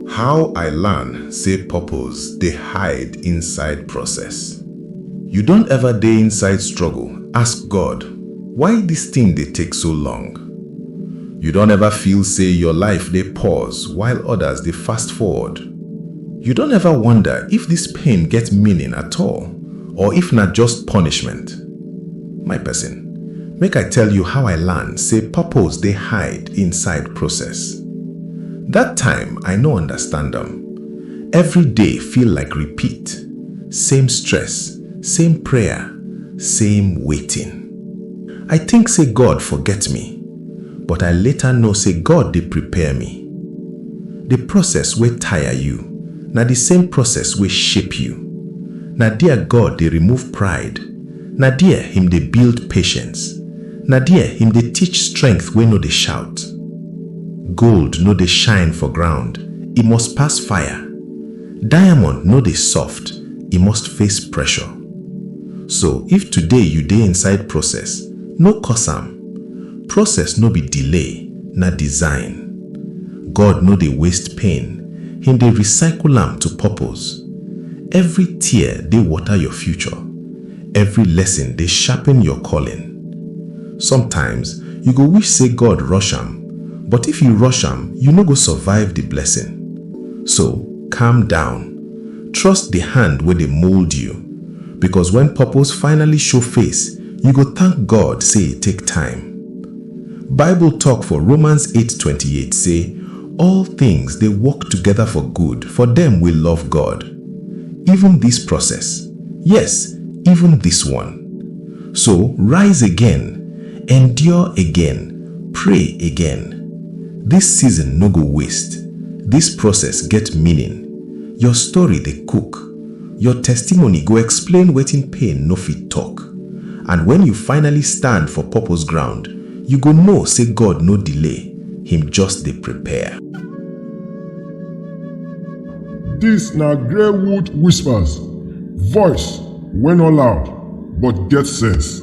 How I learn say purpose dey hide inside process. You don ever dey inside struggle ask God why this thing dey take so long? You don ever feel say your life dey pause while others dey fast forward? You don ever wonder if this pain get meaning at all or if na just punishment? My person, make I tell you how I learn say purpose dey hide inside process. That time I no understand am. Every day feel like repeat, same stress, same prayer, same waiting. I think say God forget me. but I later know say God dey prepare me. The process wey tire you na the same process wey shape you. Na there God dey remove pride, na there him dey build patience, na there him dey teach strength wey no dey shout. Gold no dey shine for ground, e must pass fire. Diamond no dey soft, e must face pressure. So if today you dey inside process, no curse am. Process no be delay, na design. God no dey waste pain, Him dey recycle am to purpose. Every tear dey water your future, every lesson dey sharpen your calling. Sometimes you go wish say God rush am, but if you rush am, you no go survive the blessing. So, calm down. Trust the hand wey dey mold you, because when purpose finally show face, you go thank God say e take time. Bible talk for Romans eight twenty eight say all things dey work together for good for dem wey love God. Even this process, yes, even this one. So rise again, endure again, pray again. This season no go waste, this process get meaning. Your story dey cook. Your testimony go explain wetin pain no fit talk. And when you finally stand for purpose ground, you go know say God no delay, Him just dey prepare. Dis na Greywood Whispers, voice wey no loud but get sense.